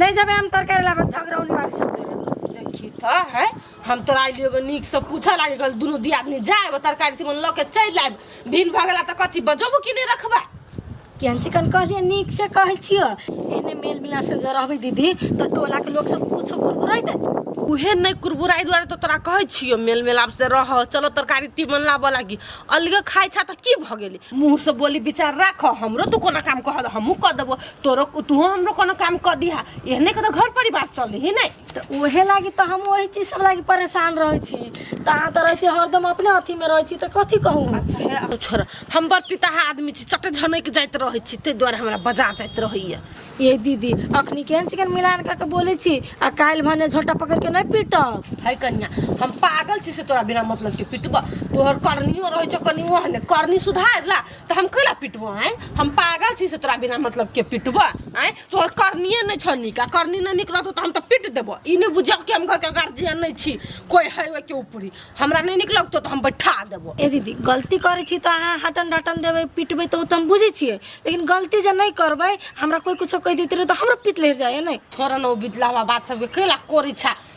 ले जेबे हम तरकारी लाबे झगरौनी वाली सब जरे देखी त है हम तोरा आइलियो गो नीक से पूछे लागे गल दुनु दी आदमी जाए तरकारी से मन ल के चल आए भिन भ गेला त कथी बजबो कि नहीं रखबा केहन चिकन कहलिए नीक से कहै छियो एने मेल मिलाप से जे रहबे दीदी तो टोला के लोग सब कुछो कुरकुराइ दे उहे नहीं कुरबुराई द्वारा तो तोरा कहै छियो मेल मेलाप से रह चलो तरकारी तीमन लाबऽ लागी अलगे खाइ छा त की भ गेली मुंह से बोली विचार राख हमरो तू कोना काम कहल हमहू क देबो तोरो तू हमरो कोनो काम कर दिहा एहने के तो घर परिवार चले ही नहीं तऽ ओहे लागी तऽ हम ओही चीज सब लागी परेशान रहै छी तऽ अहाँ तऽ रहै छी हरदम अपने अथी मे रहै छी तऽ कथी कहू हम? अच्छा है अब छोड़ हम बड़ पिताहा आदमी छी चटे झनक जाइत रहे छी ते द्वारे हमरा बजा जाइत रहैया ए दीदी अखनी केहन चिकन मिलान कऽ के बोलै छी आ काल्हि भने झोटा पकड़ के नहि पीटब है कन्या हम पागल छी से तोरा बिना मतलब के पिटबा तोहर करनियो रहे छो कनियो हने करनी सुधार ला तऽ हम कैला पिटबो आँय हम पागल छी से तोरा बिना मतलब के पिटबो आँय तोहर करनिए नहि छौ नीक आ करनी नहि नीक रहतौ तऽ हम तऽ पिट देबो ई नहि बुझौ कि हम घरके गार्जियन नहि छी कोइ है ओहिके ऊपरी हमरा नहि नीक लगतौ तऽ हम बैठा देबो ए दीदी गलती करै छी तऽ अहाँ हटन डटन देबै पिटबै तऽ ओ तऽ हम बुझै छियै लेकिन गलती जे नहि करबै हमरा कोइ कुछो कहि देतै रहै तऽ हमरो पित लहर जाइए नहि छोड़ न ओ बितला हुआ बात सबके कैला कोरी छा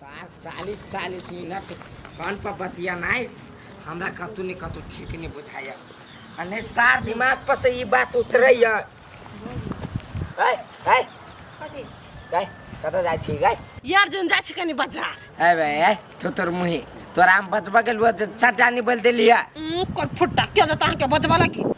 सार चालीस चालीस मिनट फोन पर बतियानाइ हमरा कतौ ने कतौ ठीक नहि बुझाइया आ नहि सार दिमाग पर से ई बात उतरैया है है है कतऽ जाइ छी गै यार जन जाइ छी कनी बाजार है बे है तो तोर मुही तोरा हम बजबा गेलुआ जे चटानी बोल देलिया उम, कर फुट्टा के देता अहाँके बजबा लगी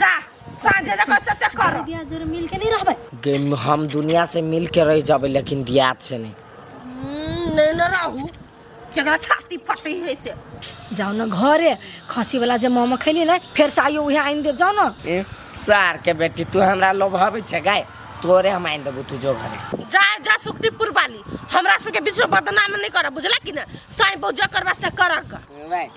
जा सांझे जब से से करो दिया जोर मिल के नहीं रहबे गे- हम दुनिया से मिल के रह जाबे लेकिन दियात से नहीं हम्म, नहीं न रहू जगह छाती फटी है से जाओ ना घरे खसी वाला जे मोमो खैली ना फिर से आइयो उहे आइन देब जाओ ना ए, सार के बेटी तू हमरा लोभावे छे गाय तोरे हम आइन देबो तू जो घरे जा जा सुक्तिपुर वाली हमरा सबके बीच में बदनाम नहीं कर बुझला कि ना साईं बौजा करवा से कर कर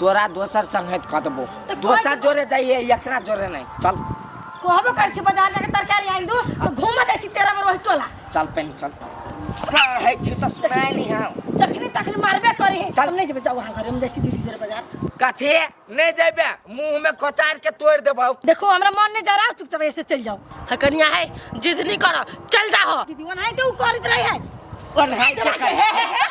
तोरा दोसर संगत कऽ देबो तऽ दोसर जोरे जाइए एकरा जोरे नहीं चल कहबो कर छी बाजार जाके तरकारी आनि दू तो घूम जाइ छी तेरा में रोहि टोला चल पेन चल है छी तो सुनाए नहीं हम जखनी तखनी मारबे करी है चल नहीं जेबे जाओ वहां घर हम जाइ छी दीदी जोरे बाजार कथी नहीं जेबे मुंह में कोचार के तोड़ देबो देखो हमरा मन नहीं जा रहा चुपचाप ऐसे चल जाओ है कनिया है जिद नहीं करो चल जाओ दीदी वहां तो करत रही है और है के करे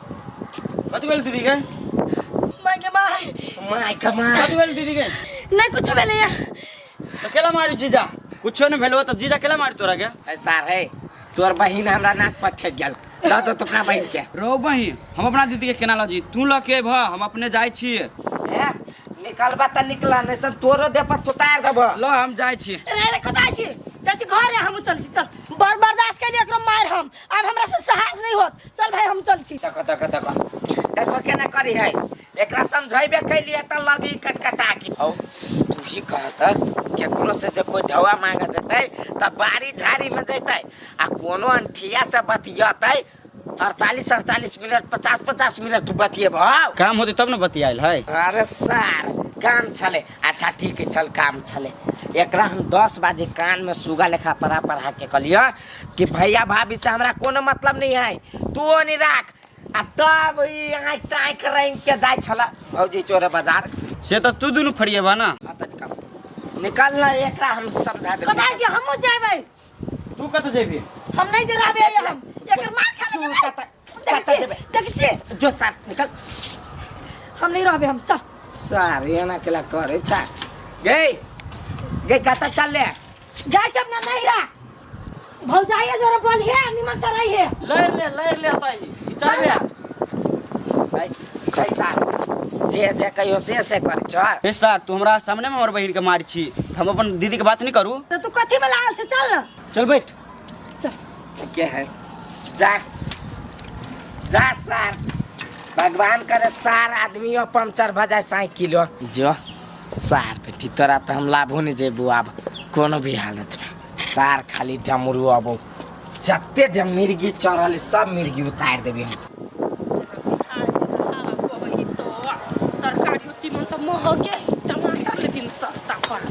कथी भेल दीदी के माय के माय माय के माय कथी भेल दीदी के नहीं कुछ भेले या तो केला मारी जीजा कुछो नहीं भेलो तो जीजा केला मारी तोरा के ए सार है तोर बहिन हमरा नाक पर ठेक गेल ला तो तो अपना बहिन के रो बहिन हम अपना दीदी के केना लजी तू ल के भा हम अपने जाय छी ए, निकलबा त निकला नहीं तो तोरो दे पर तुतार देब ल हम जाय छी रे रे कतऽ छी जाइ छी घर हम चल छी चल बड़ बर्दाश्त कइली एकरो मार हम आब हमरा से साहस नहीं होत चल भाई हम चल छी देखो देखो देखो देखो केना करी है एकरा समझाइबे कैलिए त लगी कटकटा की हौ तू ही कहत केकरो से जे कोई ढवा मांगे जतै त बारी झाड़ी में जतै आ कोनो अंठिया से बतियतै अड़तालीस अड़तालीस मिनट पचास पचास मिनट तू बतिएब हौ काम होते तब ने बतियाल है अरे सर काम छले अच्छा ठीक है चल काम छले एकरा हम दस बजे कान में सुगा लेखा पढ़ा पढ़ा के कलिया कि भैया भाभी से हमरा कोनो मतलब नहीं है तू ओनी राख आ तब ई आँख से आँख रंग के जाय छला भौजी चोरे बाजार से तो तू दोनों फरिए बा ना आ त निकल निकल ना एकरा हम समझा दे कथा जी हमहू जाबै तू कत जेबी हम नहीं जराबे हम एकर मार खा ले कतऽ जेबै देखै छियै जो साथ निकल हम नहीं रहबे हम चल सारे एना केला करे छा गे गे कतऽ चल ले जाय जब ना नहीं रहा भौजाइया जरा बोल है निमन से रही है लड़ ले लड़ ले ताई चल ले आई कैसा जे जे कहियो से से कर छ ए सर तू हमरा सामने में हमर बहिन के मार छी हम अपन दीदी के बात नहीं करू तो तू कथी में लागल से चल ना चल बैठ चल चल के है जा जा सार भगवान करे सार आदमी हो पंचर भ जाए साइकिल हो। जो सार बेटी तोरा तो हम लाभो नहीं जेबू आब कोनो भी हालत में सार खाली डमरू अबो जते जे मिर्गी चढ़ल है, सब मिर्गी उतार देबी हम तरकारी तीमन तऽ महगे टमाटर लेकिन सस्ता पड़ल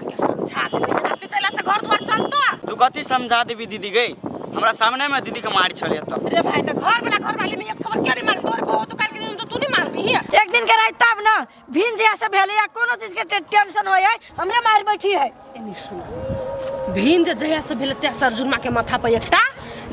समझा देबै एना पितैला से घर दुआर चलतो तू कथी समझा देबी दीदी गई हमरा सामने में दीदी के मार छले त रे भाई त घर वाला घर वाली में एक खबर के नहीं मार तोर बहु तो काल के दिन तो तू नहीं मारबी ही एक दिन के रात तब ना भिन जे से भेले या कोनो चीज के टे- टेंशन होय है हमरे मार बैठी है एनी सुन भिन जे जहिया से भेल तहिया से अर्जुनमा के माथा पर एकटा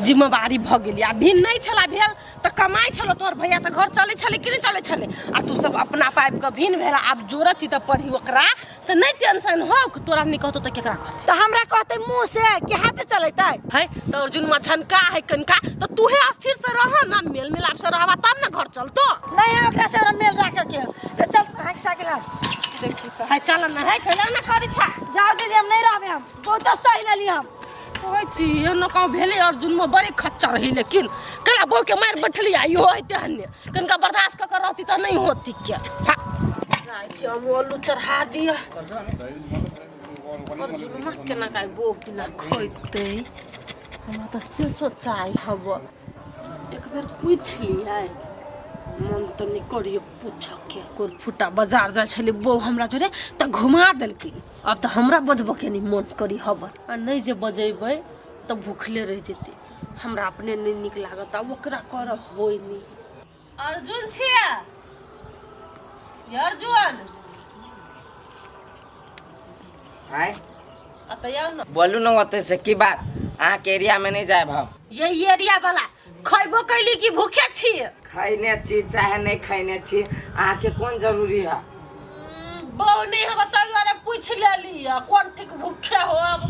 जिम्मेवारी भ गेली आ भिन नहीं छला भेल त कमाई छलो तोर भैया त घर चले छले कि नहीं चले छले आ तू सब अपना पाइप के भिन भेला आब जोरत छी त पढ़ी ओकरा तऽ नहि टेंशन हो कि तोरा नहि कहतो तऽ केकरा कहतै तऽ हमरा कहते मुंह से कि हाथे चलेतै है तऽ अर्जुन में झनका है कनका तऽ तूहे अस्थिर से रह ना मेल मिलाप से रहबा तब ना घर चलतो नहीं है ओकरा से हमरा मेल राखे के तो चल हां साइकिल हां देखी तो है चल ना है खेला ना करी छा जाओ दीदी हम नहीं रहबे हम बहुत सही लेली हम कहै छी एनो कहूँ भेलै अर्जुन में बड़ी खच्चर है लेकिन कला बो के मार बैठली आइयो है तेहने कनिका बर्दाश्त कऽ कऽ रहती तऽ नहि होती क्या जाइ छी हम ओलू चढ़ा दिअ हमर जुलमा केना काहे बो बिना खैते हमरा तऽ से सोचाइ हब एक बेर पूछि लियै मन तऽ नहि करियो पूछके कोन फुटा बाजार जाइ छलै बो हमरा जोरे तऽ घुमा देलकै आब तऽ हमरा बजबऽ के नहि मन करी हब आ नहि जे बजेबै तऽ भूखले रहि जेतै हमरा अपने नहीं निक लागत अब ओकरा कर होई नहीं अर्जुन छिया अर्जुन हाय अतया न बोलू न होते से की बात अहाँ के एरिया में नहीं जाए हम यही एरिया वाला खैबो कैली कि भूखे छी खैने छी चाहे नहीं खैने छी अहाँ के कौन जरूरी है बौ नहीं हम तैयार पूछ लेली कौन ठीक भूखे हो अब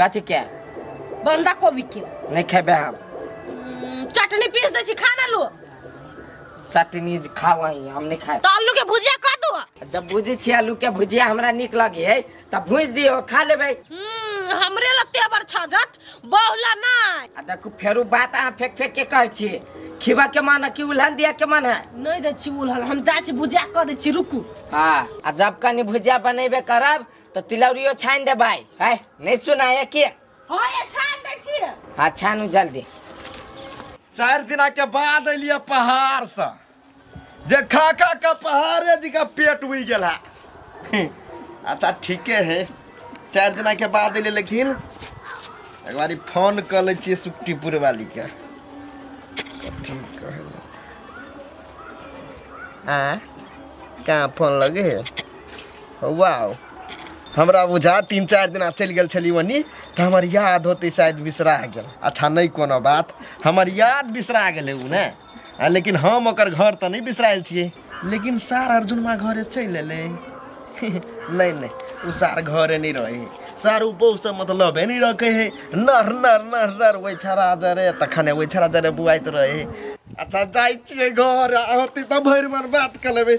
कथी के बंदा कोबी के नहीं खेबे हम हम्म, चटनी पीस दै छी खा ना लू चटनी खाओ ही हम नहीं खाए तो आलू के भुजिया कर दू जब बुझे छी आलू के भुजिया हमरा निक लगे है तब भूज दियो खा लेबे हम्म, हमरे ला तेवर छजत बहुला ना आ देखू फेरू बात अहाँ फेंक फेंक के कहै छी खिबा के मन है कि उल्हन दिया के मन है नहीं दै छी उलहल हम जाइ छी भुजिया कर दै छी रुकू हाँ आ जब कनी भुजिया बनेबे करब तऽ तिलौरियो छानि दे भाय है नहि सुनाय के हाँ ये छान दै छियै हाँ छानु जल्दी चारि दिना के बाद एलियै पहाड़ से जे खा खा के पहाड़े जी के पेट उइ गेल है अच्छा ठीके है चारि दिना के बाद एलियै लेकिन एक बारी फोन कर ले छियै सुक्तिपुर वाली के कथी कहै आ कहाँ फोन लगे है वाह हमरा बुझा तीन चारि दिना चलि गेल छली ओनी तऽ हमर याद होतै शायद बिसरा गेल अच्छा नहि कोनो बात हमर याद बिसरा गेलै ओ ने आ, लेकिन हम ओकर घर तऽ नहि बिसरायल छियै लेकिन सार अर्जुनमा घरे चलि एलै नहि नहि ओ सार घरे नहि रहै है सार ओ बहुसँ मतलबे नहि रखै है नर नर नर नर ओहि छड़ा जरे तखने ओहि छड़ा जरे बुआइत रहै है अच्छा जाइ छियै घर आ होतै तऽ भरि मन बात कऽ लेबै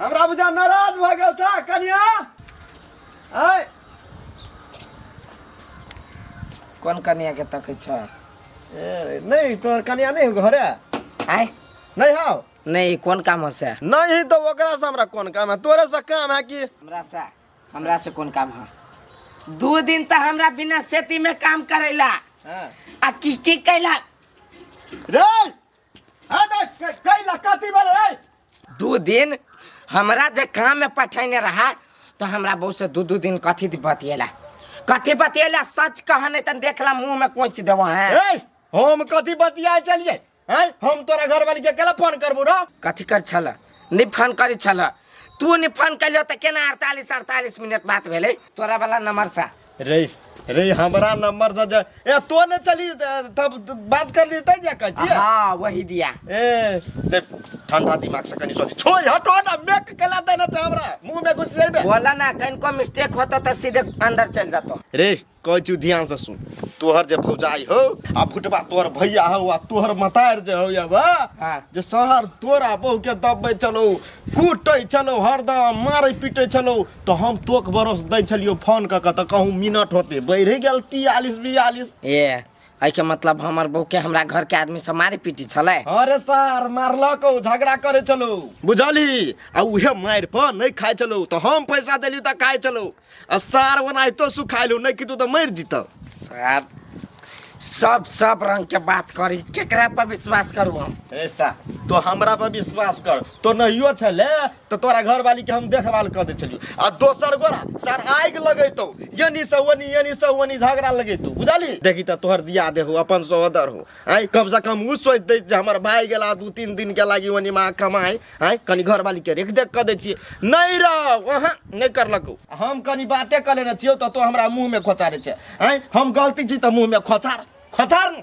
हमरा बुझा नाराज भऽ गेल छ कनिया ऐ कोन कनिया के तकै छ ए, नहीं तोहर कनिया नहीं हो घरे आय नहीं हो नहीं कोन काम हसे नहीं तो ओकरा से हमरा कोन काम है तोरे से काम है कि हमरा से हमरा से कोन काम ह दू दिन त हमरा बिना सेती में काम करैला हाँ। आ की की कैला रे दू दिन हमरा जे काम में पठेने रहा तो हमरा बहू से दू दू दिन कथी दी बतियेला कथी बतियेला सच कहा नहीं तन देखला मुंह में कोच देव है ए, हम कथी बतिया चलिए हैं? हम तोरा घर वाली के केला फोन करबो रो कथी कर छल नहीं फोन करी छल तू नहीं फोन कैलियो तो केना अड़तालीस अड़तालीस मिनट बात भेले तोरा वाला नंबर से रे रे हमरा नंबर से जे ए तो ने चली तब बात कर ली तै जा का जी हाँ वही दिया ए रे ठंडा दिमाग से कनी सोच छोड़ हटो ना मेक कला देना चाह हमरा मुंह में घुस जाइबे बोला ना कहीं को मिस्टेक होता तो सीधे अंदर चल जाता रे कह चू ध्यान से सुन तोहर जे भौजाई हो आ फुटबा तोहर भैया हो आ तोहर मतार जे हो या बा हाँ। जे शहर तोरा बहु के दबे चलो कूटे चलो हरदम मारे पीटे चलो तो हम तोक बरस दै छलियो फोन क के तो कहूँ मिनट होते बढ़ गेल तियालीस बियालीस ए एहि के मतलब हमर बहू के हमरा घर के आदमी सब मारे पीटी छले अरे सर मारलक ओ, झगड़ा करे चलो बुझली आ उहे मार पर नहीं खाए चलो तो हम पैसा देली तो खाए चलो आ सार ओना तो सुखाइलू नहीं कि तू तो मर जीत सर सब सब रंग के बात करी केकरा पर विश्वास करू हम ऐसा तो हमरा पर विश्वास कर तो नहियो छले तो तोरा घर वाली के हम देखभाल कर दे चलियो आ दोसर गोरा सर आग लगेतो यनी से वनी यनी से वनी झगड़ा लगेतो बुझाली देखी तो तोहर दिया दे हो अपन सहोदर हो आई कम से कम उ सोच दे जे हमर भाई गेला दू तीन दिन के लागी वनी माँ कमाए आई कनी घर वाली के रेख देख कर दे छिए नहीं रह वहाँ नहीं करलको हम कनी बाते कर लेने छियो तो तो हमरा मुंह में खोचारे छे आई हम गलती छी तो मुंह में खोचार खोचार न।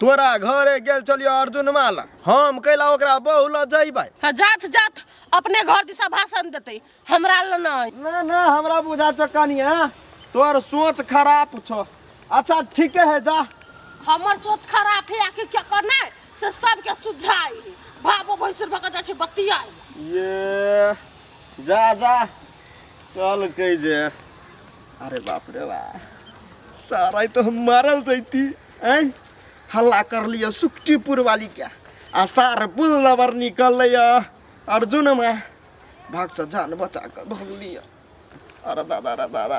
तोरा घरे गेल चलियो अर्जुन माला हम कैला ओकरा बहु ल जइबै हाँ, जात जात अपने घर दिशा भाषण देते हमरा ल नहीं ना ना हमरा बुझा छ कनिया तोर सोच खराब छ अच्छा ठीके है जा हमर सोच खराब है आखिर क्या करना है से सबके सुझाई बाबो भैंसुर भक जा छै बतियाई ये जा जा चल कै जे अरे बाप रे बा सारा तो हम मारल जैती ऐ हल्ला कर लियो सुक्तिपुर वाली के आ सार बुल नबर निकल लियो अर्जुन में भाग से जान बचा कर धोल लियो अरे दादा रे दादा